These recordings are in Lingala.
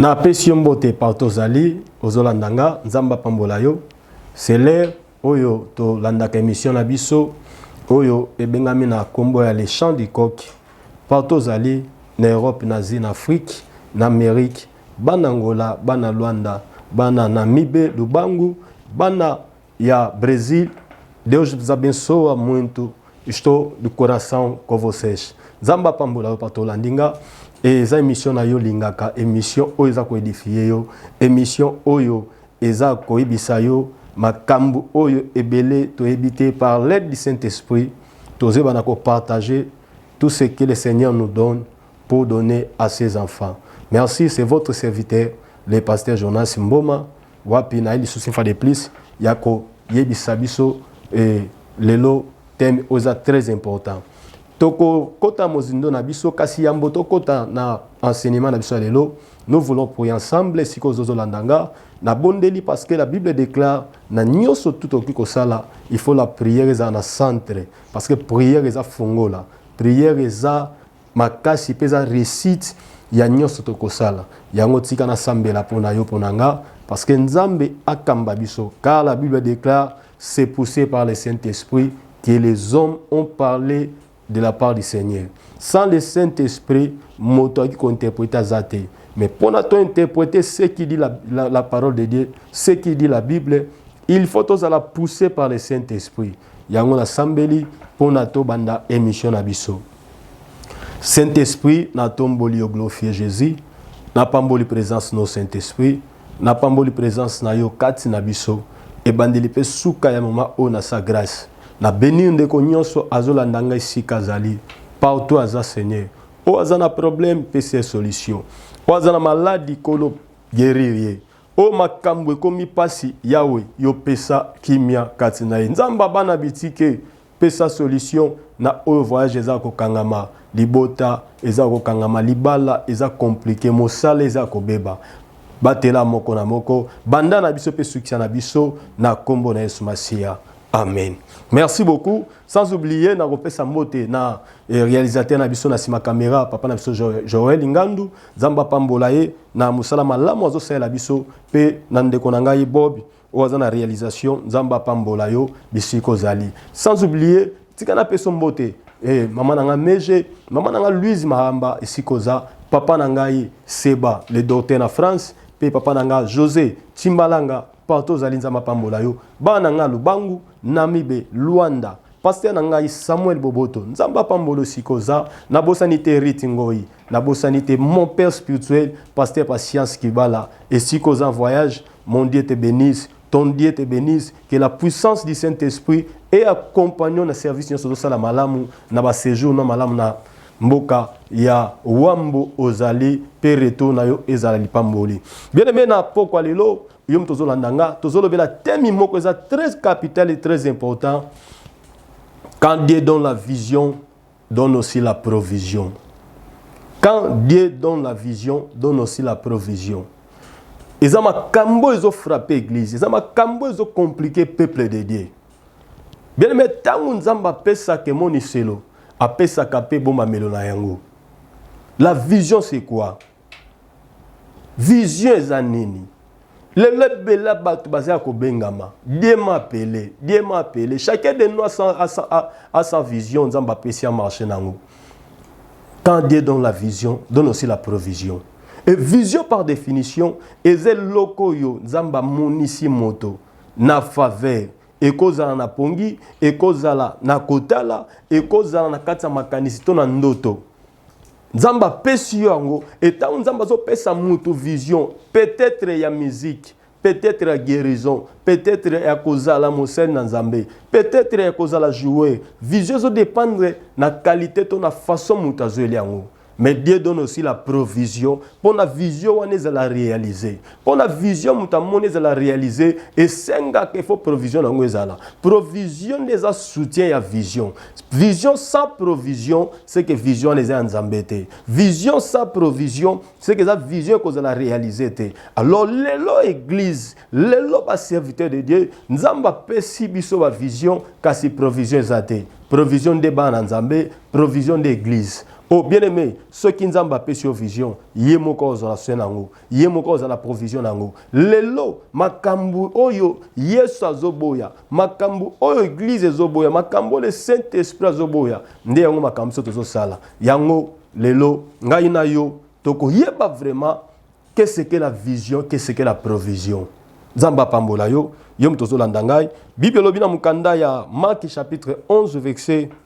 Na pesi yo mbote partout ozali ozolanda nga nzambe apambola yo c'est l'heure oyo tolandaka émission na biso oyo ebengami na kombo ya le chant du coq partout ozali na Europe na Asie na Afrique na Amérique bana Angola bana Luanda bana Namibe Lubangu bana Ya Bresil Deus nos abençoa muito estou de coração com vocês Nzambe apambola yo Pastor Landinga et eza emission na yo lingaka emission oyo eza ko edifier yo emission oyo eza koyebisa yo makambu oyo ebele toyebi te par l'aide du Saint-Esprit tozeba na ko partager tout ce que le Seigneur nous donne pour donner à ses enfants. Merci, c'est votre serviteur, le pasteur Jonas Mboma. Wapi naye lisusu une fois de plus yako yebisa biso eh, lelo thème oza très important. Toko kota mozindo na biso kasi yambo tokota na enseignement na biso ya lelo. Nous voulons prier ensemble siko zozo landanga na bondeli parce que la Bible déclare na nyoso tout oki kosala il faut la prière eza na centre parce que prière eza fongola prière eza makasi pe eza reussite ya nionso tokosala yango tika na sambela pona yo pona nga parce que nzambe akamba biso car la bible declare c'est poussé par le saint esprit que les hommes ont parlé de la part du seigneur sans le saint esprit moto aki ko interprete aza te mais pona to interprete ce qui dit la, la, la parole de dieu ce qui dit la bible il faut tozala poussé par le saint esprit yango na sambeli pona to banda emission na biso Saint Esprit na tomboli yo glorifie Jesus na pamboli presence no Saint Esprit na pamboli presence na yo kati na biso ebandeli pe suka ya mama oyo na sa grace na benir ndeko nyonso azolanda ngai sika azali partout aza Seigneur oyo aza na problème pesi ye solution oyo aza na maladi kolo guerir ye oyo makambo ekomi mpasi yawe yo pesa kimia kati na ye nzambe abana bitike Pesa solution na oyo voyage eza ya kokangama, libota eza ya kokangama, libala eza complique, mosala eza ya kobeba. Batela moko na moko, banda na biso pe sukisa na biso na kombo na Yesu Masiya. Amen. Merci beaucoup. Sans oublier na kopesa mbote na eh, réalisateur na biso na sima caméra papa na biso Joël Ngandu Zamba pambola ye na musala malamu azosalela biso pe na ndeko na ngai Bob oyo aza na realisation nzambe apambola yo bisika ozali sans oublier tika napeso mbote eh, mama na ngai meje mama na ngai louise mahamba esika oza papa na ngai seba le docteur na france mpe papa na ngai josé timbalanga partout ozali nzambe apambola yo bana na ngai lubangu namibe luanda paster na ngai samuel boboto nzambe apambola esika oza nabosani te rite ngoi nabosani te mon père spirituel paster patience kibala esika oza voyage Mon Dieu te benisse, ton Dieu te benisse, que la puissance du Saint-Esprit et accompagnons na service nyonso tozosala malamu na ba séjour na malamu na mboka ya wambo ozali mpe retour na yo ezala lipamboli bien aime na pokwa lelo yo moto ozolanda nga tozolobela temi moko eza très capital et très important quand dieu donne la vision Donne aussi la provision quand Dieu donne la vision donne aussi la provision eza makambo ezo frapper église eza makambo ezo compliquer peuple de Dieu bien aimé tango Nzambe apesaka emoniselo apesaka pe bomamelo na yango la vision c'est quoi Vision eza nini? lelo ebela bato baza ya kobengama die mapele die mapele chacun de nous a sa vision nzambe apesi ya marche na yango quand dieu donne la vision donne aussi la provision et vision par définition eza eloko oyo nzambe amonisi moto na faveur ekozala na pongi ekozala na kotala ekozala na kati ya makanisi to na ndoto nzambe apesi yo yango etango nzambe azopesa mutu vision peut-être ya musique peut-être ya guérison peut-être ya kozala mosene na nzambe peut-être ya kozala joueur vision ezodépendre na qualité to na façon mutu azweli yango mais Dieu donne aussi la provision mpo na vision wana ezala realize pona vision moto amoni ezala réalise esengaka ifo provision na yango ezala provision nde eza soutien ya vision vision sans provision seke vision wana eza ya nzambe te vision sans provision seke eza vision ekozala réalise te alors lelo église lelo baserviteur de dieu nzambe apesi biso bavision kasi provision eza te provision nde bana nzambe provision nde église o oh, bien aimé soki nzambe apesi yo vision ye moko ozala soin na yango ye moko azala provision na yango lelo makambo oyo yesu azoboya makambo oyo eglize ezoboya makambo oyo le saint esprit azoboya nde yango makambo so tozosala yango lelo ngai na yo tokoyeba vraiment keseke la vision keseke la provision nzambe apambola yo yo moto ozolanda ngai bible elobi na mokanda ya marki chapitre 11 verset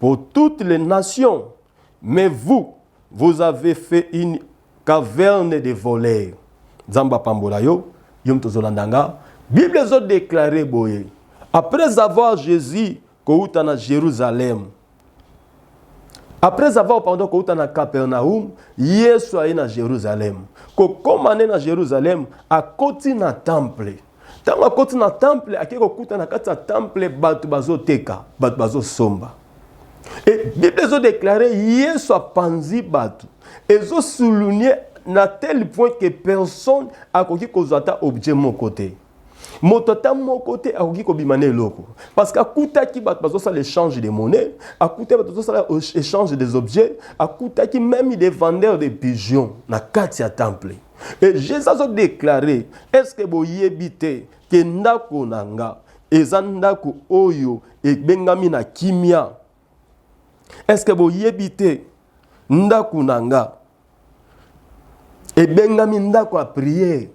pour toutes les nations mais vous vous avez fait une caverne de voleurs nzambe apambola yo yo moto ozolanda nga bible ezodeklare boye après avoir jésus kouta na jérusalem après avoir pardon kouta na capernaum yesu aye na jérusalem kokoma nde na jérusalem akoti na temple Ntango akoti na temple, akei kokuta na kati ya temple bato bazoteka, bato bazosomba. E Biblia ezodeklare Yesu apanzi bato, ezosulunie na tel point ke personne akoki kozwa ata objet moko te moto ata moko te akoki kobima na eloko parce que akutaki bato bazosala échange de monnaie akutaki bato bazosala échange des objets akutaki même des vendeurs de pigeons na kati ya temple Et Jésus a déclaré, est-ce que boyebi te que ndako na nga eza ndako oyo ebengami na kimia? Est-ce que boyebi te ndako na nga ebengami ndako ya prière?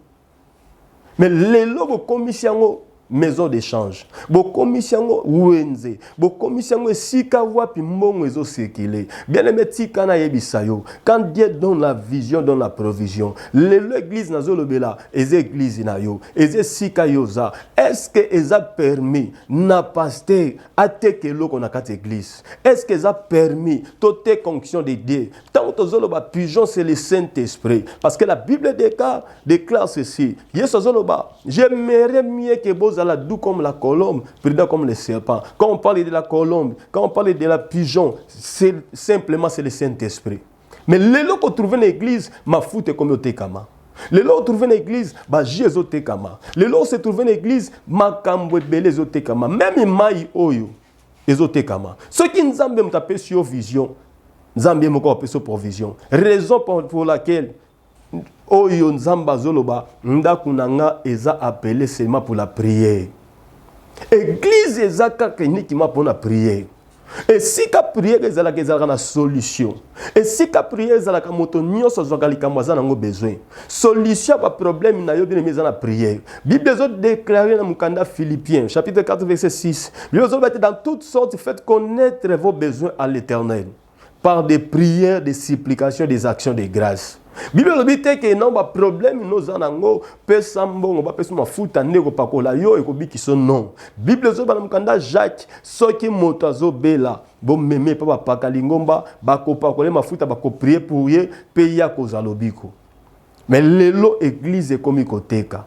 Mais lelo bokomisi yango maison d'échange bokomisi yango wenze bokomisi yango esika wapi mbongo ezosekile bien aime tika nayebisa yo quand dieu donne la vision donne la provision lelo eglise nazolobela eza eglise na yo eza esika yo oza estce eza permis na paster ateka eloko na kati eglise estce eza permis toteka onction de dieu ntango tozoloba pigeon c'est le saint esprit parce que la bible déclare ceci Yesu azoloba, j'aimerais mieux que bozala doux comme la colombe, prudent comme le serpent. Quand on parle de la colombe, quand on parle de la pigeon, c'est simplement c'est le Saint-Esprit. Mais lelo ko trouver na église mafuta ekomi otekama. Lelo trouver na église ba jeux ezotekama. Lelo se trouver na église makambo ebele ezotekama. Même mai oyo ezotekama. Soki Nzambe mutapesi yo vision, Nzambe moko apesi provision. Raison pour laquelle oyo nzambe azoloba ndako na nga eza appele seulement pour la prière eglize eza kaka uniquement mpona prière esika priere ezalaka ezalaka na solution esika priere ezalaka moto nyonso azwaka likambo aza nango besoin solution ya baproblème na yo binemi eza na priere bible ezodeklare na mokanda philippien chapitre 4 verset 6 bible ezoloba te dans toute sorte faites connaître vos besoins à l'éternel par des prières, des supplications, des actions de grâce. Bible elobi te ke non ba problème no za nango pesa mbongo ba pesa mafuta nde kopakola yo ekobikisa non. Bible ezoba na mokanda Jacques soki moto azobela bomeme mpe bapaka lingomba bakopakole mafuta bakoprie pour ye mpe ye akozwa lobiko. Mais lelo eglise ekomi koteka.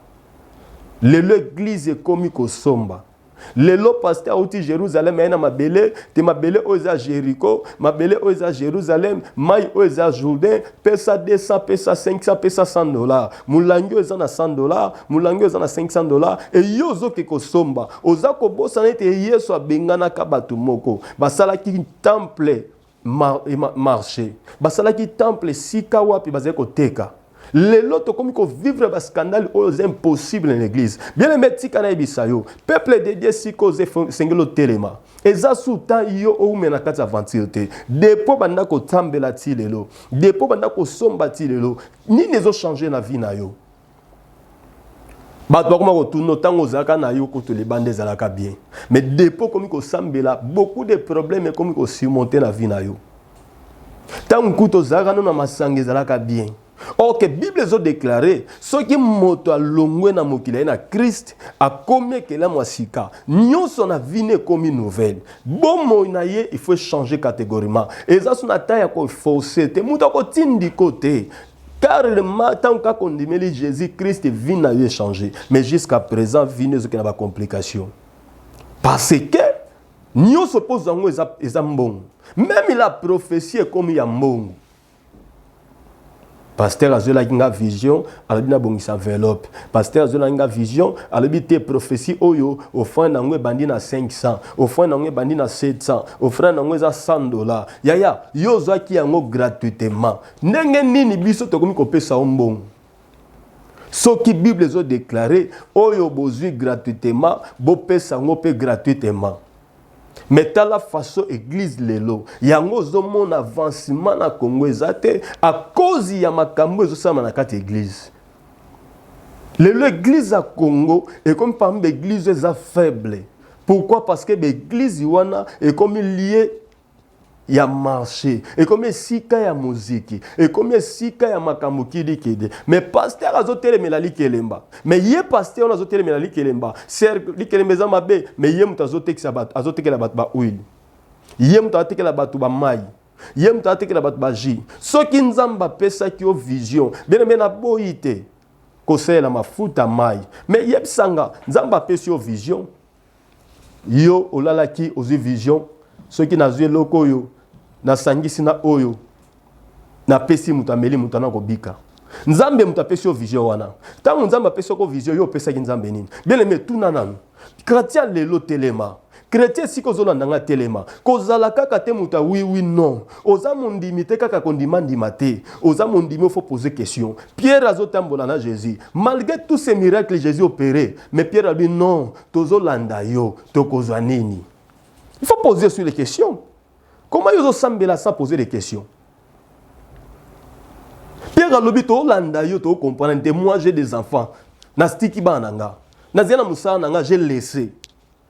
Lelo eglise ekomi kosomba. lelo paster auti jerusalem aye na mabele te mabele oyo eza jericho mabele oyo eza jerusalem mai oyo eza jourdain pesa 200 pesa 500 pesa 100 dollar molangi oyo eza na 100 dollar molangi oyo eza na 500 dollar eye ozoke kosomba oza kobosana ete yesu abenganaka bato moko basalaki temple Mar, eh, ma, marche basalaki temple esika wapi bazali koteka lelo tokomi kovivre bascandale oyo eza impossible na église bien aime tika nayebisa yo peuple de dieu sika oza esengeli otelema eza suta yo oume na kati aventure te depo banda kotambela ti lelo depo banda kosomba ti lelo nini ezochange na vie na yo bato bakoma kotuna ntango ozalaka na yo kutu libanda ezalaka bien mais depo okomi kosambela beaucoup de problème ekomi kosurmonte na vie na yo ntango kutu ozalaka no na masanga ezalaka bien ok bible ezodeklare soki moto alongwe na mokili aye na krist akomi ekelamu ya sika nyonso na vini ekomi nouvelle bomoi na ye il faut echange categoriment eza so na ta ya koforce te moto akotindiko te Karl ma ntango kaka ondimeli Jésus Christ vie na yo echange mais jusqu'à présent vie no ezokende na bacomplication parce que nyonso mpo ozwa yango eza, eza mbongo meme la prophétie ekomi ya mbongo pasteur azwelaki nga vision alobi nabongisa enveloppe pasteur azwelaki nga vision alobi te prophétie oyo ofrande yango ebandi na 500 ofrande yango ebandi na 700 ofrande yango eza 100 dollar yaya yo ozwaki yango gratuitement Ndenge nini biso tokomi kopesa yo mbongo? soki bible ezodeklare oyo bozwi gratuitement bopesa yango mpe gratuitement me tala faso eglize lelo yango ozomona avancement na congo eza te akozi ya makambo ezosalama na kati ya eglize lelo eglize ya congo ekomi parmi baeglize eza faible pourquoi parce que baeglize wana ekomi lie ya marché ekomi esika ya moziki ekomi esika ya makambo kidikidi me paster azotelemela likelemba me ye paster wana azotelemela likelemba cercle likelemba eza mabe me ye moto azotekisa bato azotekela bato baoile ye moto azotekela bato bamai ye moto azotekela bato baji soki nzambe apesaki yo vision bene me naboyi te kosalela mafuta mai me yebisanga nzambe apesi yo vision yo olalaki ozwi vision soki nazwi eloko oyo nasangisi na oyo napesi moto ameli moto ana kobika nzambe moto apesi yo vision wana ntango nzambe apesi yoko vision yo opesaki nzambe nini bieleme etuna nanu kratia lelo telema kretien esika ozolanda nga telema kozala kaka te moto ya wiwi non oza mondimi te kaka kondimandima te oza mondimi ofo pose question pierre azotambola na jésus malgré tous ces miracles jésus opere Mais Pierre a dit non, tozo landa yo, tokozwa nini? Il faut poser sur les questions. Comment yo sambela sans poser des questions? Pierre alobi to landa yo to comprendre te moi j'ai des enfants. Na stiki bana nga. Na zela musala nga j'ai laissé.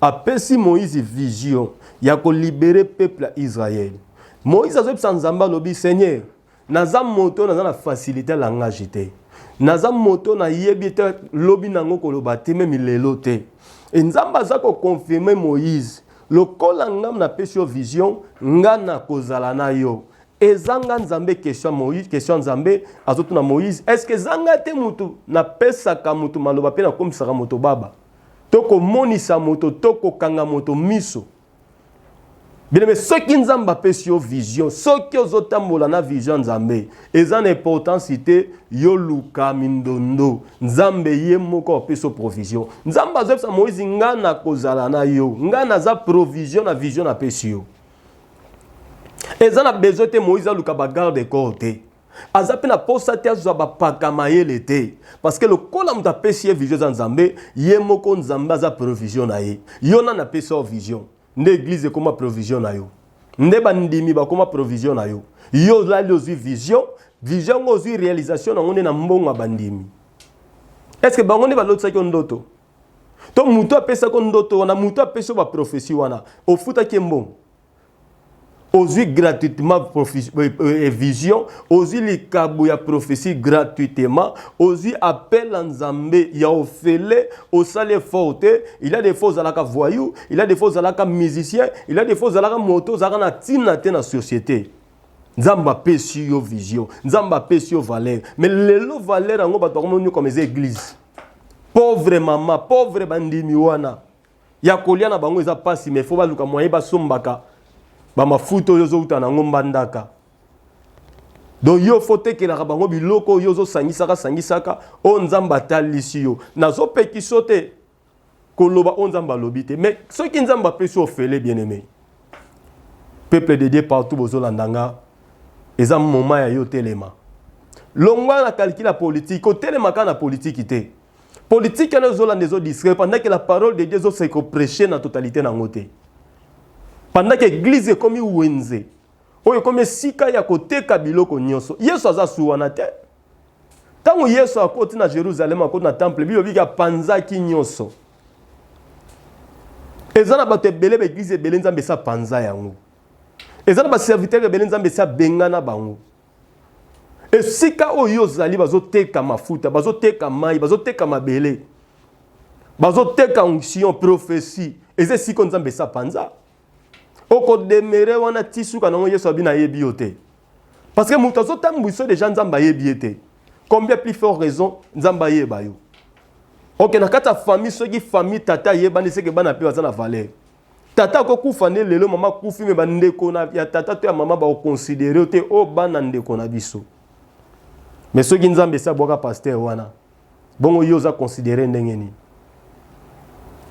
Apesi Moïse vision ya ko libere peuple ya Israël. Moïse azobisa Nzambe alobi Seigneur, naza moto naza na facilité ya langage te. Naza moto nayebi te lobi nango koloba te meme lelo te. Et Nzambe aza ko confirmer Moïse lokola nga napesi yo vision nga nakozala na yo ezanga nzambe question moïse question nzambe azotuna moïse est ce que ezanga te mutu napesaka mutu maloba mpe nakomisaka moto baba to komonisa moto to kokanga moto miso bilebe soki nzambe apesi yo vision soki ozotambola na vision ya nzambe eza na importance te yoluka mindondo nzambe ye moko apesi yo provision nzambe azoyebisa moïse nga nakozala na yo nga naza provision na vision napesi yo eza na besoin te moïse aluka bagarde corps te aza mpe na mposa te azwa bapaka mayele te parceke lokola moto apesi ye vision eza nzambe ye moko nzambe aza provision na ye yo nani apesi yo vision nde eglize ekoma provision na yo nde bandimi bakoma provision na yo yo olali ozwi vision vision yango ozwi realisation na yango nde na mbongo ya bandimi estce bango nde balotisaki yo ndoto to moto apesaki yo ndoto wana moto apesi yo baprofesi wana ofutaki ye mbongo ozwi gratuitement euh, euh, vision ozwi likabo ya prophetie gratuitement ozwi appel ya nzambe ya ofele osali effort te il a des fois ozalaka voyou il a des fois ozalaka musicien il a des fois ozalaka moto ozalaka na ntina te na société nzambe apesi yo vision nzambe apesi yo valeur mais lelo valeur yango bato bakomoni comme eza église pauvre mama pauvre bandimi wana ya kolia na bango eza pasi mais faut baluka moyen basombaka bamafuta oyo ozowuta na yango mbandaka donc yo fo otekelaka bango biloko oyo ozosangisaka sangisaka oyo nzambe atalisi yo nazopekiso te koloba oyo nzambe alobi te mais soki nzambe apesi ofele bien aimé peuple de dieu partout bozolanda nga eza moma ya yo telema longwa na calcule ya politiki kotelema kaka na politiki te Politique wana ezo landa ezo distraire pendant que la parole de Dieu ezo se prêcher na totalité na ngote. Pendant que église ekomi wenze oyo ekomi esika ya koteka biloko nyonso. Yesu aza suwana te. Tango Yesu akoti na Jérusalem akoti na temple bible bika panzaki nyonso. Eza na bato ebele ba église ebele Nzambe sa panza yango. Eza na ba serviteur ebele Nzambe sa bengana bango. esika oyo yo ozali bazoteka mafuta bazoteka mai bazoteka mabele bazoteka onction prophesie eza esika nzambe esa panza okodemere wana ti suka nango yesu abi nayebi yo te parce que moto azotambwisa deja nzambe ayebi ye te combien plus fort raison nzambe ayeba yo oke na kati ya famille soki famille tata ayebani seke bana mpe baza na valeur Tata ako kufa nde lelo mama akufi me bandeko na ya tata to ya mama bakoconsidere yo te o oh, bana ndeko na biso. Me soki Nzambe esi abwaka pasteur wana bongo yo oza considere ndenge nini?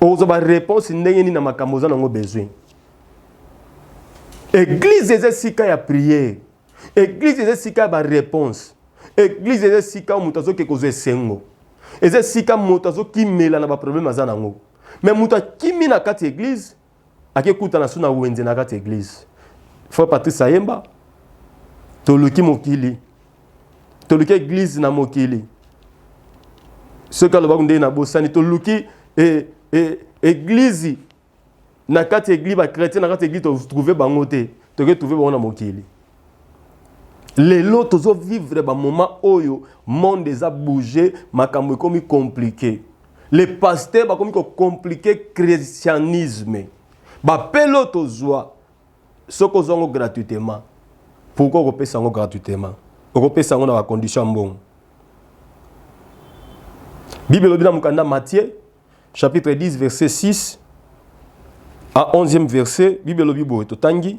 Okozwa ba réponse ndenge nini na makambo oza nango besoin? Eglise eza esika ya prière. Eglise eza esika ya ba réponse. Eglise eza esika moto azoke kozwa esengo. Eza esika moto azokimela na ba problème aza nango. me moto akimi na kati ya eglize akekutana so na wenze na kati ya eglize frère patrice ayemba toluki mokili toluki eglize na mokili soki alobaki ndenge nabosani toluki e, e, eglize na kati ya eglize bakretien na kati ya eglize totrouve bango te toke trouve bango na mokili lelo tozo vivre ba moment oyo monde eza bouge makambo ekomi compliquer les pasteurs bakomi ko compliquer christianisme ba pelo tozwa soki ozwa yango gratuitement pourquoi okopesa yango gratuitement okopesa yango na ba condition ya mbongo bible elobi na mokanda matthieu chapitre 10 verset 6 a 11e verset bible elobi boye totangi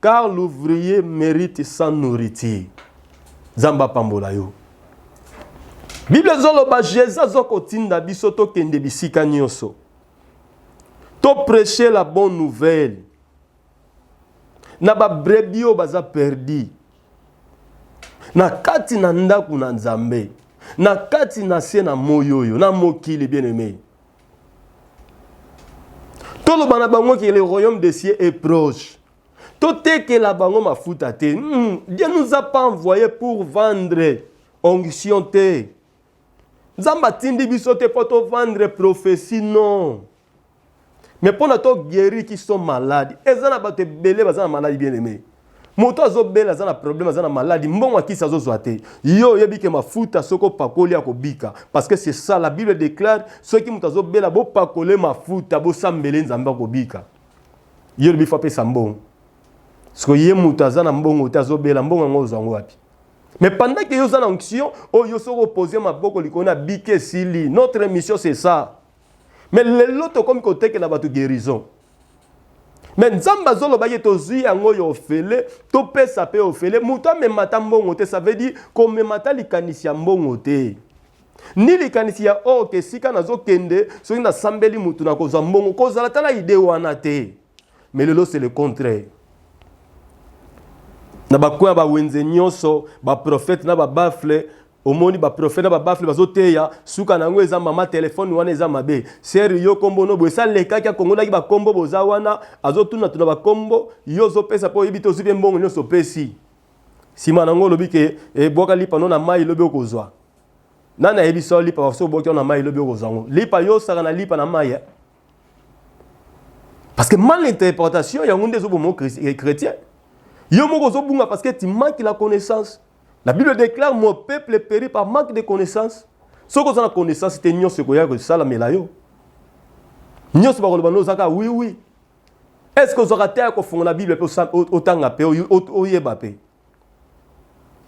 car l'ouvrier merite sans nourriture nzambe apambola yo bible ezoloba jesus azokotinda biso tokende bisika nyonso topreche la bonne nouvelle na babrebi oyo baza perdi na kati na ndako na nzambe na kati na se na moi oyo na mokili bien aime toloba na bango ke le royaume de cieux est proche totekela bango mafuta te hmm, dieu nous a pas envoyé pour vendre onction te nzambe atindi biso te mpo tovendre prophetie non mais mpo na toguéri qui sont malade eza na bato ebele baza na maladi bien aimé moto azobela aza na problème aza na maladi mbongo akisi azozwa te yo oyebi ke mafuta soki opakoli akobika parce que c'est ça la bible déclare soki moto azobela bopakole mafuta bosambele nzambe akobika yo olobi fo apesa mbongo siko ye moto aza na mbongo te azobela mbongo yango ozwa yango wapi mais pendant que yo oza na onction oyo yo soki opose maboko likolo na bike esili notre mission c'est ça mais lelo tokomi kotekela bato guérison me nzambe azoloba ye tozwi yango oyo ofele topesa mpe ofele moto amemata mbongo te ça veut dire komemata likanisi ya mbongo te ni likanisi ya or oh, ke esika nazokende soki nasambeli motu nakozwa mbongo kozala tala ide wana te mais lelo c'est le contraire na bakoya bawenze nyonso baprofete na babafle omoni baprofe na babafle bazoteya suka na yango eza mama telefone wana eza mabe sere yo kombo no boye salekaki akongolaki bakombo boza wana azotuna tuna bakombo yo ozopesa mpo oyebi te ozwi mpe mbongo nyonso opesi nsima na yango olobi ke ebwaka eh, lipa no na mai lobi okozwa nani ayebisi yo lipa baso obwaki na mai lobi okozwa yango lipa yo osaka na lipa na mai eh? parce que mal interprétation yango nde ezoboma eh, chrétien yo moko ozobunga parce que timaki la connaissance La Bible déclare mon peuple périt par manque de connaissance. Soki oza na connaissance te nyonso ekoya kosalamela yo. Nyonso bakoloba no ozaka oui oui. Est-ce que ozwaka temps ya kofungola Bible mpe otanga mpe oyeba mpe?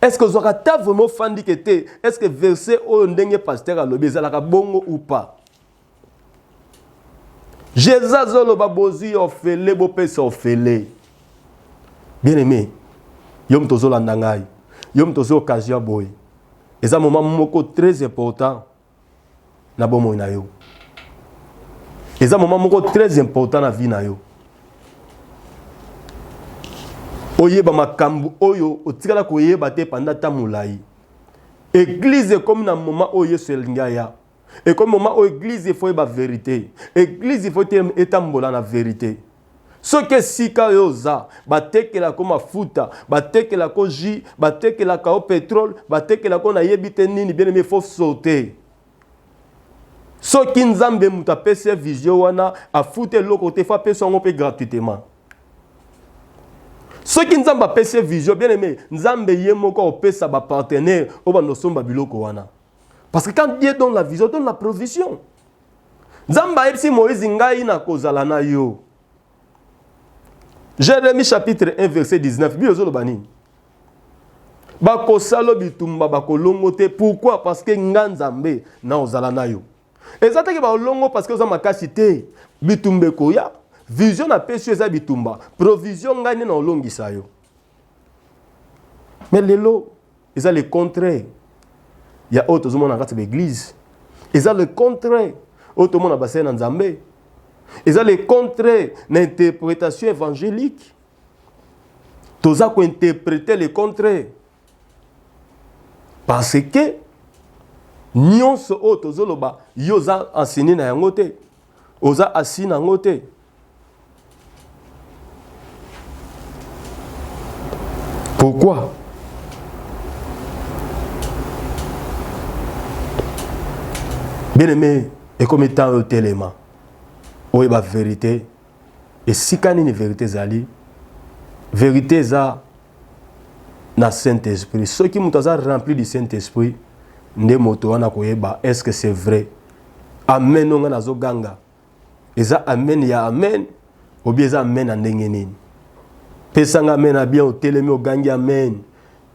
Est-ce que ozwaka temps vraiment ofandi ke te? Est-ce que verset oyo ndenge pasteur alobi ezalaka bongo ou pas? jesus azoloba bozwi ofele bopesa ofele bien aime yo moto ozolanda ngai yo moto ozwi occasion boye eza moma moko très important na bomoi na yo eza moma moko très important na vie na yo oyeba makambo oyo otikala koyeba te panda ntango molai eglize ekomi na moma oyo yesu elingi aya ekomi moma oyo eglize ifo yeba verite eglize ifo te etambola na verite soki esika oyo oza batekelako mafuta batekelako jus batekelaka yo petrole batekelako nayebi te nini bieneme ifo sote soki nzambe moto apesi vision wana afuta eloko te fo apesi yango mpe gratuitement soki nzambe apesi vision bieneme nzambe ye moko opesa bapartenere oyo bandosomba biloko wana Parce que quand Dieu donne la vision, donne la provision. Nzambe ayebisi Moïse ngai nakozala na yo. Jérémie chapitre 1 verset 19 bino ezoloba nini? bakosala bitumba bakolongo te pourquoi parce que nga nzambe na ozala na yo eza teke baolongo parce que oza makasi te bitumba ekoya vision napesi yo eza bitumba provision ngai nde naolongisa yo mais lelo eza le contraire ya oyo tozomona na kati ya baeglize eza le contraire oyo tomona basali na nzambe eza le contraire na interprétation évangélique toza kointerprete le contraire parce que nyonso oyo tozoloba yo oza enseigne na yango te oza assi na yango te Pourquoi Bien aimé, et comme étant au téléma, où est la vérité Et si quand une vérité zali, vérité za na Saint-Esprit. Ceux qui m'ont rempli du Saint-Esprit, nde moto wana koyeba est-ce que c'est vrai? Amen, on a ganga. eza amen ya amen obi eza amen ya ndenge nini pesa nga amen ya bien otelemi ogangi amen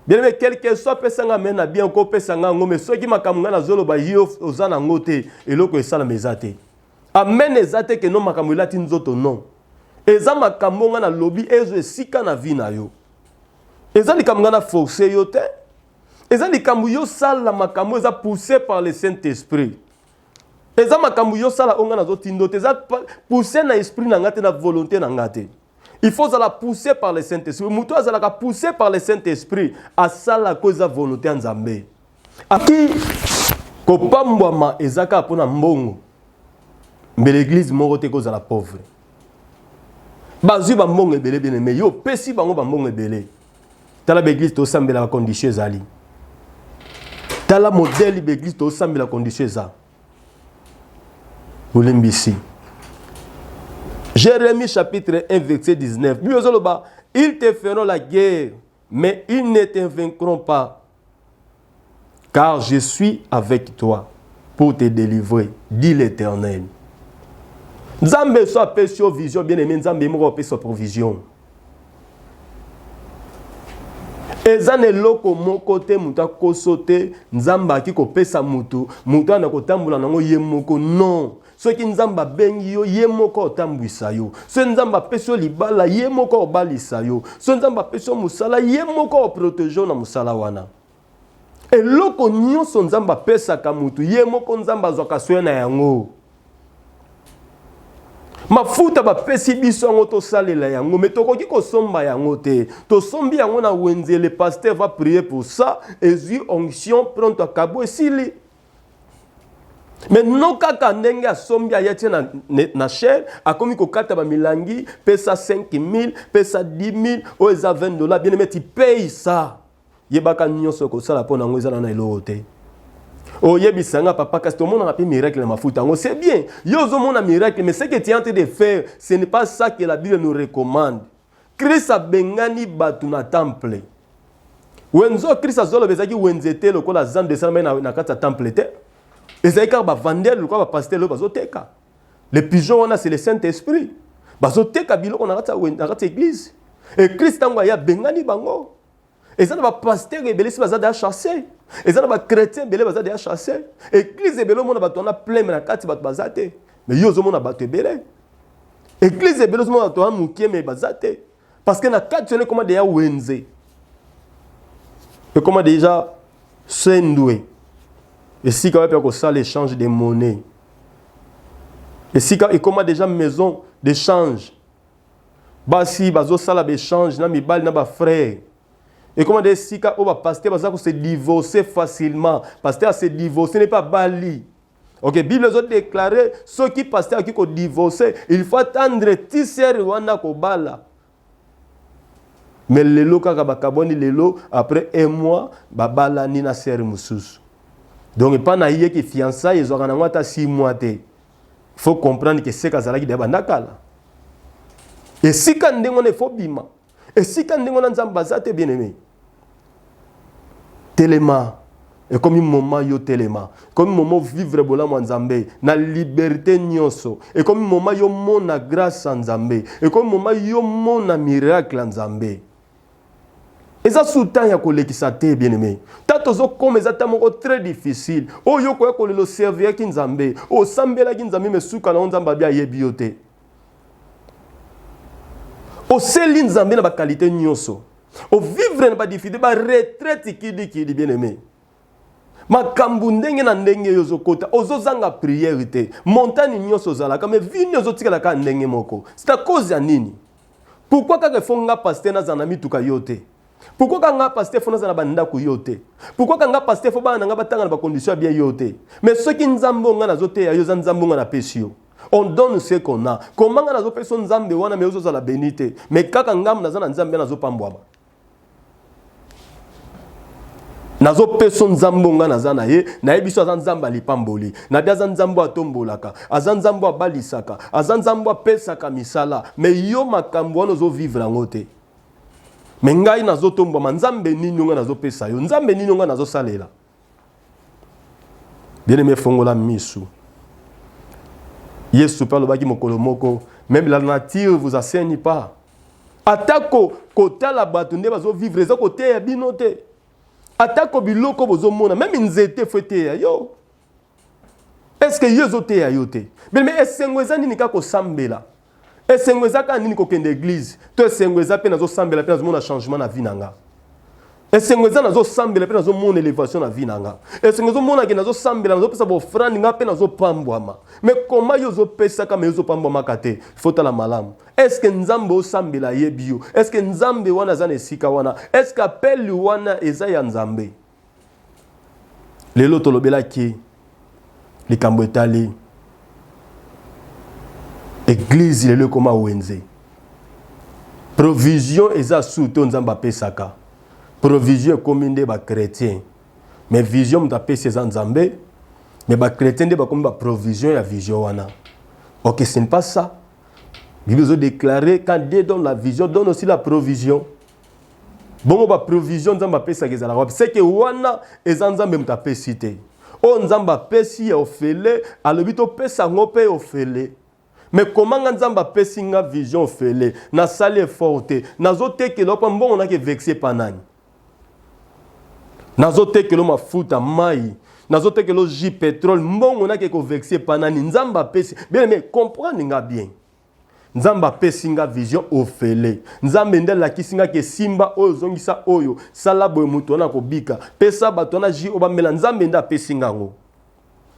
bien aimé quel que soit pesa nga amen ya bien okopesa nga yango mais soki makambo ngai nazoloba yo oza na yango te eloko esalama eza te amen eza te keno makambo elati nzoto non eza makambo ngai nalobi ezwa esika na vie na yo eza likambo ngai na force yo te eza likambo yo sala makambo eza poussé par le saint esprit eza makambo yo sala onga nazo tindo te eza pousse na esprit na nga te na volonté na nga te il faut zala poussé par le saint esprit moto azalaka poussé par le saint esprit asala ko eza volonté ya nzambe aki kopambwama eza kaka mpo na mbongo mbele eglize moko te ekozala pauvre bazwi bambongo ebele bene me yo opesi bango bambongo ebele tala baeglise tosambelaka condition ezali tala modele baeglise tosambela condition eza olimbisi jérémie chapitre 1 verset 19 bino ezoloba ils te feront la guerre mais ils ne te vaincront pas Car je suis avec toi pour te délivrer, dit l'Éternel. Nzambe so apesi yo vision bien aimé Nzambe moko apesa provision. eza na eloko moko te moto akoso te nzambe aki kopesa moto moto wana kotambola nango ye moko non soki nzambe abengi yo ye moko otambwisa yo soki nzambe apesi yo libala ye moko obalisa yo soki nzambe apesi yo mosala ye moko oprotege yo na mosala wana eloko nyonso nzambe apesaka motu ye moko nzambe azwaka soin na yango mafuta bapesi biso yango tosalela yango me tokoki kosomba yango te tosombi yango na wenzele paster va prier pour ça ezwi onction pronto akabo esili me no kaka ndenge asombi aya tie na, na chaine akomi kokata bamilangi pesa 5000 pesa 10000 oyo eza 20 dollars bien emeti pay sa yebaka nyonso okosala mpo na yango ezala na eloko te oyebisa nga papa kasi tomonaka mpe miracle na mafuta yango c'est bien yo ozomona miracle mais ce que tu es en train de faire ce n'est pas ça que la bible nous recommande Kristo abengani bato na temple. Wenzo Kristo azoloba ezalaki wenze te lokola zando esalamaki na, na kati ya temple te. Ezalaki kaka bavandele lokola bapasitele oyo bazoteka. Le pigeon wana c'est le Saint-Esprit. Bazoteka biloko na kati ya na kati ya eglise. Et Kristo ntango aye abengani bango. eza na bapastere ebele si baza deya chasse eza na bachrétien ebele baza deya chasse eglize ebele omona bato wana pleme na kati bato baza te me yo ozomona bato ebele eglize ebele ozomona bato wana moke me baza te parce que na kati wana ekoma deya wenze ekoma deja sendwe esika wapi ya kosala échange de monnaie esika ekoma deja maison d'échange basi bazosala baechange na mibali na bafrere ekoma nde esika oyo bapaster baza kose divorce facilement paster ase divorce nepe abali ok bible ezodeklare soki paster akoki kodivorce il faut attendre tisere wana kobala me lelo kaka bakabwani lelo après un mois babalani na sere mosusu donc epai na ye ke fiançai ezwaka nango ata 6 mois te faut comprendre que seka azalaki deya banda kala esika ndenge wana efo bima esika ndenge wana nzambe baza te bien aimé telema ekomi moma yo telema ekomi moma ovivre bolamu ya nzambe na liberte nyonso ekomi moma yo mona grâce ya nzambe ekomi moma yo mona miracle ya nzambe eza su temps ya kolekisa te bien aimé ta tozokoma eza temps moko très difficile oyo yo koya kolela oserviraki nzambe osambelaki nzambe me suka na yo nzambe abi ayebi yo te oseli nzambe na bakalite nyonso ovivre na badifide baretraite kidikidi bien aimé makambo ndenge na ndenge yo ozokota ozozanga priere te montani nyonso ozalaka me vini ozotikalaka ndenge moko c'est à cause ya nini Pourquoi kaka faut nga pasteur nazala na mituka yo te? Pourquoi kaka nga pasteur faut nazala na bandako yo te? Pourquoi kaka nga pasteur faut bana na nga batanga na ba conditions ya bien yo te? Mais soki nzambe oyo nga nazoteya yo eza nzambe nga napesi yo on donne ce qu'on a. Comment nga nazopesa yo nzambe wana mais ozozala beni te? Mais kaka ngambo naza na nzambe nazopambwama. nazo peso nzambe nga naza na ye nayebi so aza nzambe alipamboli nabi aza nzambe atombolaka aza nzambe abalisaka aza nzambe apesaka misala me yo makambo wana ozovivre yango te me ngai nazotombwama nzambe nini yo ngai nazopesa yo nzambe nini yo ngai nazosalela bien aime fongola misu yesu mpe alobaki mokolo moko meme la nature vous aseni pas atako kotala bato nde bazovivre eza koteya bino te atako biloko bozomona meme nzete fo eteya yo est ce que yo ezoteya yo te bileme esengo eza nini kaka kosambela esengo eza kaka nini kokende eglize to esengo eza mpe nazosambela mpe nazomona changement na vie na nga esengo eza nazosambela mpe nazomona elevation na vie na nga esengo ezomonake nazosambela nazopesa baofrande nga mpe nazopambwama me koma yo ozopesaka me ozopambwamaka te fotala malamu eske nzambe osambela ayebi yo eske nzambe wana aza na esika wana eske apeli wana eza ya nzambe lelo tolobelaki likambo etali eglize lelo ekoma wenze provision eza su to nzambe apesaka provision ekomi nde bachrétien mais vision moto apesi eza nzambe mais bachrétien nde bakomi baprovision ya vision wana ok ce n'est pas ça bible ezodeklare quand dieu donne la vision donne aussi la provision bongo baprovision nzambe apesaka ezalaka wapi seke wana eza nzambe moto apesi te oyo nzambe apesi ya ofele alobi topesa yango mpe ofele me komanga nzambe apesi nga vision ofele nasali effort te nazotekela opa mbongo nake vexe epa nani nazotekela mafuta mai nazotekela oji petrole mbongo nake kovexe epa nani nzambe apesi bien me comprendre nga bien Nzambe apesi nga vision ofele. Nzambe nde alakisi nga ke simba oyo zongisa oyo sala boye moto wana kobika. Pesa bato wana jus oyo bamela. Nzambe nde apesi nga yango.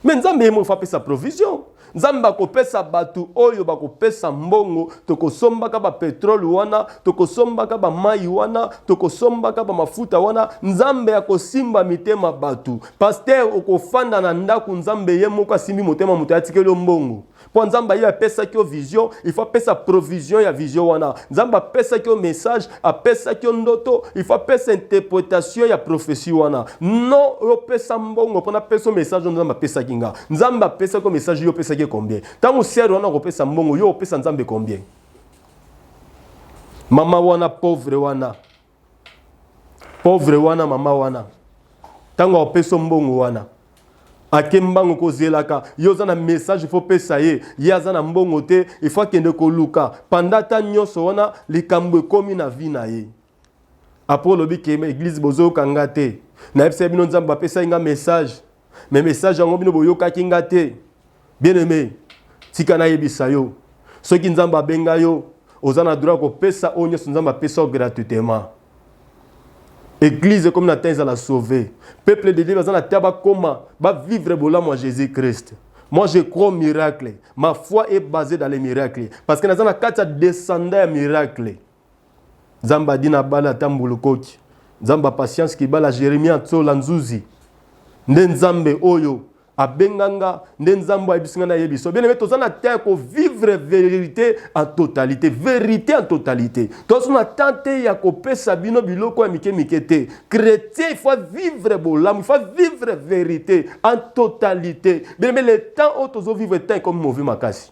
Mais Nzambe yemo fa pesa provision. Nzambe akopesa bato oyo bakopesa mbongo, tokosombaka ba petrole wana, tokosombaka ba mai wana, tokosombaka ba mafuta wana. Nzambe akosimba mitema bato. Pasteur okofanda na ndako Nzambe ye moko asimbi motema moto atikeli yo mbongo. mpo nzambe aye apesaki yo vision ifo apesa provision ya vision wana nzambe apesaki yo message apesaki yo ndoto ifo apesa interpretation ya prophesie wana no opesa mbongo mpona apesa message oyo nzambe apesaki nga nzambe apesaki yo message yo opesaki ye combien ntango sere wana akopesa mbongo yo opesa nzambe combien mama wana pauvre wana Pauvre wana mama wana ntango akopeso mbongo wana ake mbango kozelaka yo oza na message fo pesa ye ye aza na mbongo te ifo akende koluka panda ata nyonso wana likambo ekomi na vi na ye apres olobi ke eglise bozoyoka nga te nayebisa bino nzambe apesaki nga message mais message yango bino boyokaki nga te bien aimé tika nayebisa yo soki nzambe abenga yo oza na droit kopesa oyo nyonso nzambe apesa yo gratuitement église ekomi na temps ezala sauve peuple de dieu baza na temps bakoma bavivre bolamu ya jésus christ moi je crois au miracle ma foi est basée dans les miracles parce que naza na kati ya descendant ya miracle Nzambe adi na bala ata mbulu koki. Nzambe a patience kibala Jeremie Atsola Nzuzi. Nde Nzambe oyo abenga nga nde nzambe ayebisi nga nayebi so bien aimé toza na temps ya kovivre verité en totalité verité en totalité toza na temps te ya kopesa bino biloko ya mike mike te chrétien il faut vivre bolamu il faut vivre verité en totalité bien aimé le temps oyo tozovivre temps ekomi mauvais makasi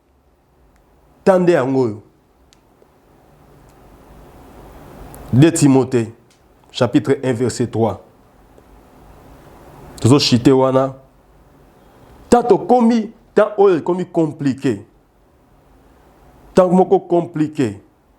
ta nde yango oyo 2 timote chapitre 1 verset 3 tozochite wana ta tokomi ta oyo ekomi komplike ntango moko komplike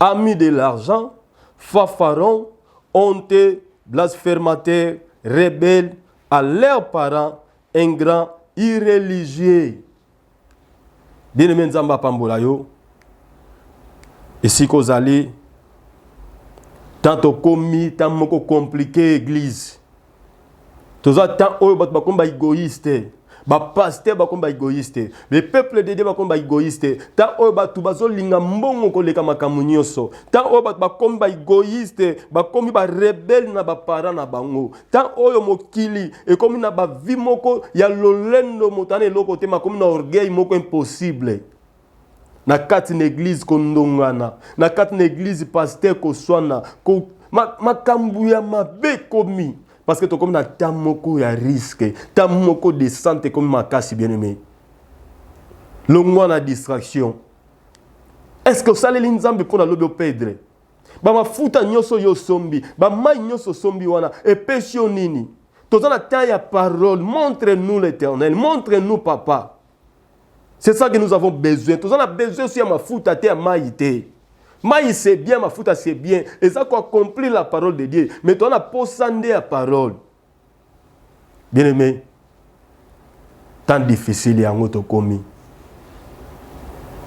a mis de l'argent, fafaron, honte, blasphemateur, rebelle, à leurs parents, ingrants, irreligieux. Bien aimé Nzamba apambola yo. Esika ozali, tant okomi, tant moko compliqué église. toza temps oyo bato bakomi ba egoïste bapaster bakomi ba egoïste le peuple de dieu bakomi ba egoïste temps oyo bato bazolinga mbongo koleka makambo nyonso temps oyo bato bakomi ba egoïste bakomi barebele na baparent na bango temps oyo mokili ekomi na bavi moko ya lolendo moto ana eloko te makomi na orgueil moko impossible na kati na eglize kondongana na kati na eglize paster koswana ko, makambo ya mabe ekomi parce que tokomi na ntango moko ya riske ntango moko descente ekomi makasi bien aimé longwa na distraction est ce que osaleli nzambe mpo na lobi opedre bamafuta nyonso yo osombi bamai nyonso osombi wana epesi yo nini toza na temps ya parole montre nous l'éternel montre nous papa C'est ça que nous avons besoin. Nous avons besoin aussi de mafuta te ya mayi te. Mayi c'est bien, mafuta c'est bien. Et ça quoi accomplir la parole de Dieu. Mais tu as posa nde ya parole. Bien aimé. Tant difficile yango tokomi.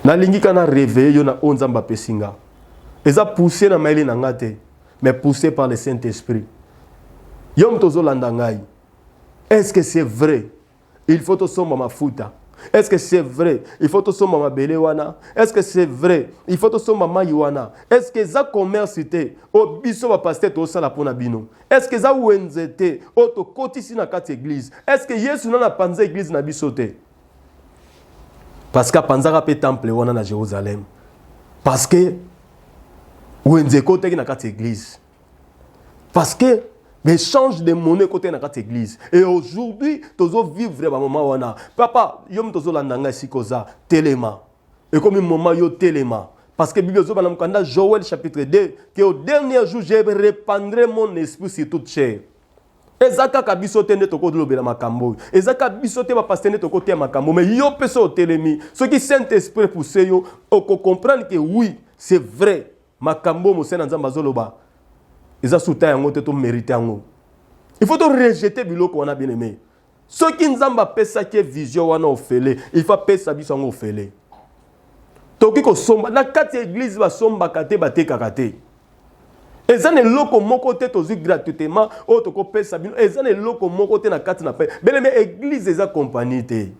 Nalingi kana réveiller yo na onzamba pesinga. Eza poussé na maili na ngate, mais poussé par le Saint-Esprit. Yom tozo landa ngai. Est-ce que c'est vrai? il faut tosomba mafuta est-ce que c'est vrai il faut tosomba mabele wana est-ce que c'est vrai il faut tosomba mai wana est-ce que eza commerce te oyo biso bapaster tosala mpo na bino est-ce que eza wenze te oyo tokotisi na kati église est-ce que yesu nana apanza église na biso te parce que apanzaka mpe temple wana na jérusalem parce que wenze ekotaki na kati église parce que l'échange de monnaie côté na kati église et aujourd'hui tozo vivre ba moment wana papa yo mtozo landa ngai sikoza telema ekomi moment yo telema parce que Bible zoba na mukanda Joël chapitre 2 que au dernier jour je répandrai mon esprit sur toute chair eza kaka biso te nde tokolobela makambo oyo eza kaka biso te bapaster nde tokoteya makambo mai yo mpe so otelemi soki saint esprit pousse yo okocomprendre ke oui c'est vrai makambo oyo mosali na nzambe azoloba eza suta yango te tomerite yango il faut torejete biloko wana bien aime soki nzambe apesaki ye vision wana ofele il faut apesa biso yango ofele tokoki kosomba na kati ya eglize basombaka te batekaka te eza na eloko moko te tozwi gratuitement oyo tokopesa bino eza na eloko moko te na kati na pe beleme eglize eza kompani te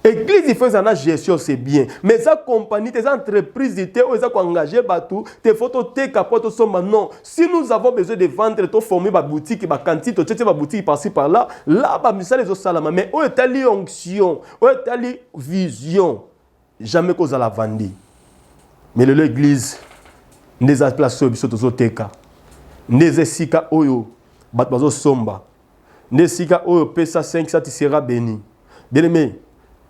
Église il faut ezala na gestion c'est bien mais eza compagnie te eza entreprise te oyo eza koengage bato te faut toteka mpo tosomba non si nous avons besoin de vendre toforme babutiki bakantine totietie babutiki parci par là là bamisala ezosalama mais oyo etali onction oyo etali vision jamais ko zala vandi mais lelo eglise nde eza place oyo biso tozoteka nde eza esika oyo bato bazosomba nde esika oyo pesa 5 sati sera beni bien-aime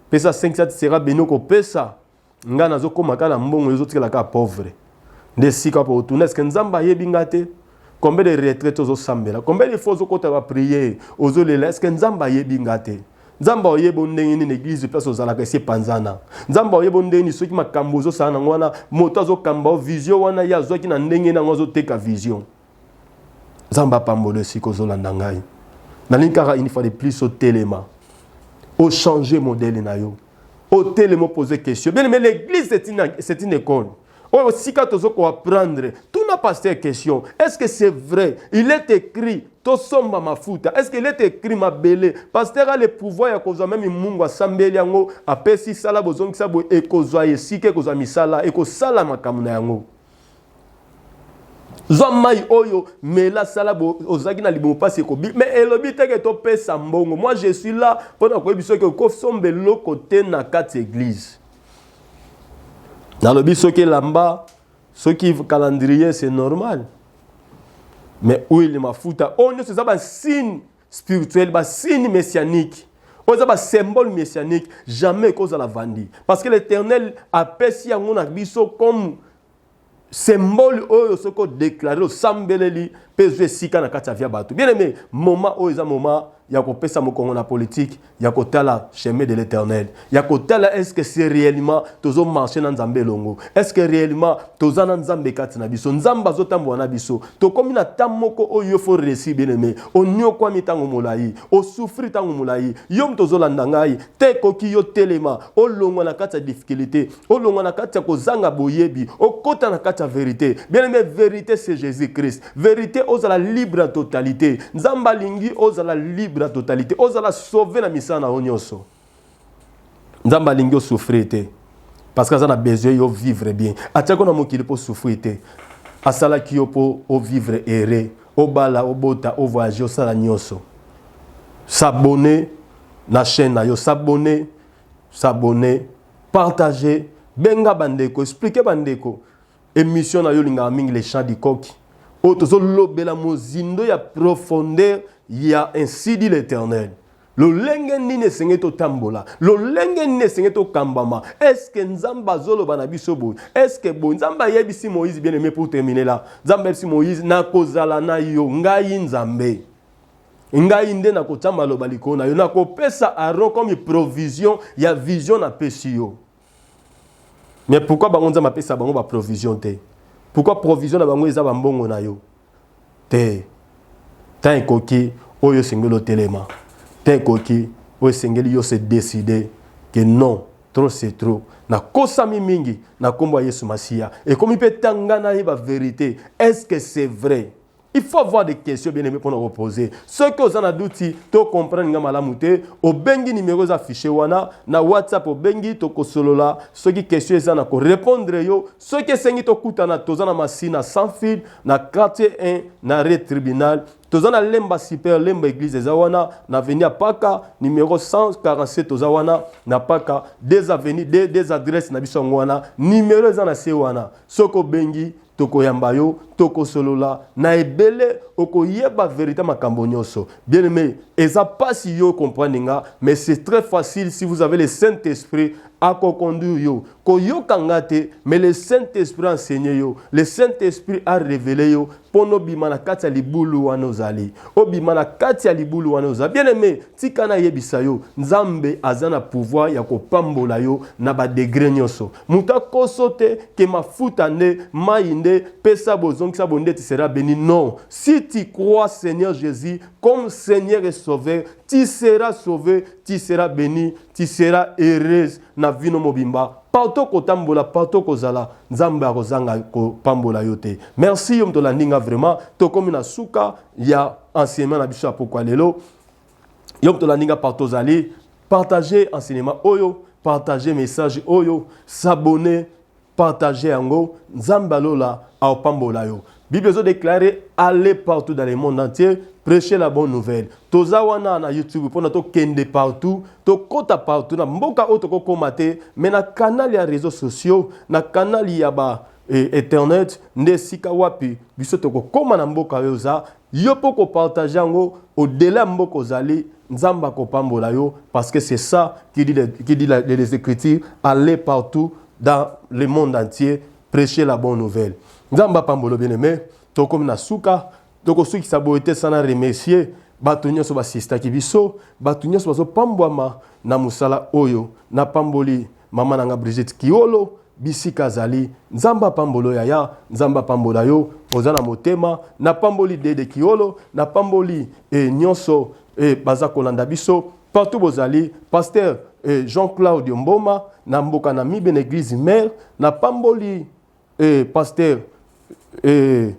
pesa 5 sati sera beni okopesa ngai nazokoma kaka na mbongo ezotikala kaka pauvre nde esika mpo otuna eske nzambe ayebi ngai te combien de retraite ozosambela combien de fois ozokota bapriere ozolela eske nzambe ayebi ngai te nzambe oyeba ndenge nini eglize place ozalaka esi epanzana nzambe oyeba ndenge nini soki makambo ozosala nango wana moto azokamba o vision wana ye azwaki na ndenge nango azoteka vision nzambe apambolo esika ozolanda ngai nalingi kaka une fois de plus otelema ochange modele na yo otelema opoze question bien aime l'église c'est une, une école oyo sika tozo ko apprendre tuna pasteur question est ce que c'est vrai il est écrit tosomba mafuta est ce qu'il est écrit mabele pasteur a le pouvoir ya kozwa meme mungu asambeli yango apesi sala bozongisa boye ekozwa esika ekozwa misala ekosala makambo na yango zwa mai oyo mela sala ozalaki na libumu mpasi ekobi me elobi teke topesa mbongo moi je suis là mpo na koyebi soki okosomba eloko te na kati eglise nalobi soki elamba soki calendrier c'est normal mais huile mafuta oyo nyonso eza basigne spirituel basigne messianique oyo eza basymbole messianique jamais ekozala vandi parce que l'éternel apesi yango na biso comme symbole oyo soki odeklare osambeleli mpe ezwi esika na kati ya via bato bien aime moma oyo eza moma ya kopesa mokongo na politike ya kotala chemin de l'éternel ya kotala eske se réellement tozomarche na nzambe elongo eske réellement toza na nzambe kati na biso nzambe azotambola na biso tokomi na ta moko oyo yo fo resi bien aime oniokwami ntango molai osufri ntango molai yo moto ozolanda ngai te ekoki yo telema olongwa na kati ya difficulté olongwa na kati ya kozanga boyebi okota na kati ya verite bien aime verite c'est jésus christ verite ozala libre na totalité nzambe alingi ozala libre na totalité ozala sauve na misala na yo nyonso nzambe alingi osouffrir te parce que aza na besoin yo vivre bien atiaki na mokili mpo osouffrir te asalaki yo mpo ovivre heureux obala obota ovoyage osala nyonso s'abonner na chaîne na yo s'abonner s'abonner Partager, benga bandeko, expliquer bandeko. Emission na yo lingaka mingi les chants du coq. Oyo tozo lobela mozindo ya profondeur ya ainsi dit l'Éternel. lolenge nini esengeli totambola lolenge nini esengeli tokambama eske nzambe azoloba na biso boye eske boye nzambe ayebisi moïse bien aime pour terminer la nzambe ayebisi moïse nakozala na yo ngai nzambe ngai nde nakotya maloba likolo na yo nakopesa aron comme provision ya vision napesi yo mais pourquoi bango nzambe apesa bango baprovision te pourquoi provision na bango eza bambongo na yo te ntan ekoki oyo esengeli otelema ntan ekoki oyo esengeli yo se décide que non trop c'est trop nakosami mingi na nkombo ya yesu masiya ekomi mpe tanga nayeba verité est ce que c'est vrai Il faut avoir des questions bien aimé pona reposer. Ce que aux anadouti, to comprendre nga malamu te, obengi numéro za fichier wana na WhatsApp obengi to kosolola, ce qui question eza na ko répondre yo, ce que sengi to kutana tozana masina sans fil na quartier 1 na rue tribunal toza na lemba super lemba église eza wana na avenue ya paka numero 147 toza wana na paka des avenue des, des adresse na biso yango wana numero eza na se wana soki obengi tokoyamba yo tokosolola na ebele okoyeba verite makambo nyonso bien aimé eza pasi yo comprendre nga mais c'est très facile si vous avez le saint esprit akoconduire yo koyoka nga te mais le saint esprit enseigné yo le saint esprit a révélé yo mpo nobima na kati ya libulu wana ozali obima na kati ya libulu wana ozali bien aimé tika nayebisa yo nzambe aza na pouvoir ya kopambola yo na badegre nyonso moto akoso te ke mafuta nde mai nde pesa bozongisa bondeti sera beni non si tu crois seigneur jésus comme seigneur et sauveur tu seras sauve tu seras beni tu seras heureuse na vino mobimba partout kotambola partout kozala nzambe akozanga kopambola yo te merci yo moto olandi nga vraiment tokomi na suka ya enseignement na biso ya pokwa lelo yo moto olandi nga partout ozali partage enseignement oyo partage message oyo s'abonner partage yango nzambe alola aopambola yo bible ezodeklare aller partout dans le monde entier prêcher la bonne nouvelle toza wana na youtube mpona tokende partout tokɔta partout na mboka oyo tokokoma te mai na kanal ya réseau sociaux na kanal ya ba e, internet nde esika wapi biso tokokoma na mboka oyo oza Yo pe oko partager yango au delà ya mboka ozali Nzambe akopambola yo parce que c'est ça qui dit, qui dit les Ecritures, aller partout dans le monde entier precher la bonne nouvelle. Nzambe apambola bien aimé, tokomi na suka, tokosukisa boye te sana remercier bato nyonso basistaki biso, bato nyonso bazopambwama na mosala oyo. Napamboli Mama na nga Brigitte Kiolo bisika azali nzambe apambolo yaya nzambe apambola yo oza na motema napamboli dede kiolo napamboli e, nyonso e, baza kolanda biso partout bozali pasteur e, jean claudio mboma na mboka na mibe na eglise mare napamboli Ee pastere Ee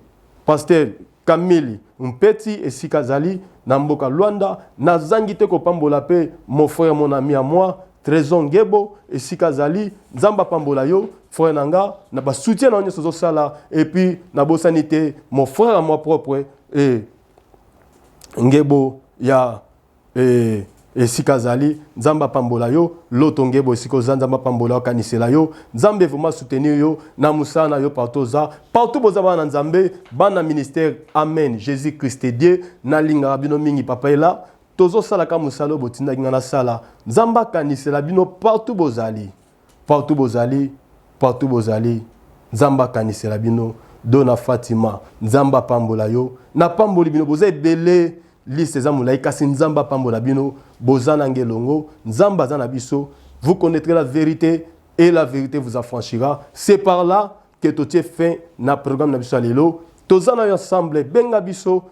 pastere Kamili Mpeti esika azali na mboka Luanda Nazangi te kopambola pe mon frère mon ami à moi Tresor Ngebo esika azali Nzambe apambola yo frère na nga na ba soutien na yo nionso ozosala et puis nabosani te mon frère à moi propre Ee Ngebo ya Ee, esika azali, Nzambe apambola yo, Loto Ngebo, esika oza, Nzambe apambola yo, akanisela yo, Nzambe vraiment soutenir yo, na mosala na yo partout oza, partout boza bana na Nzambe, bana ministère, amen, Jesus Christ est Dieu, nalingaka bino mingi, Papa est là, tozosala kaka mosala oyo botindaki nga nasala, Nzambe akanisela bino partout bozali. Partout bozali, partout bozali, Nzambe akanisela bino, Dona Fatima, Nzambe apambola yo, na pamboli bino, boza ebele, liste eza molayi, kasi Nzambe apambola bino, boza nanga elongo, Nzambe aza na biso, vous connaitrez la verite et la verite vous affranchira, c'est par là que totie fin na programme na biso ya lelo, toza nayo ensemble, benga biso,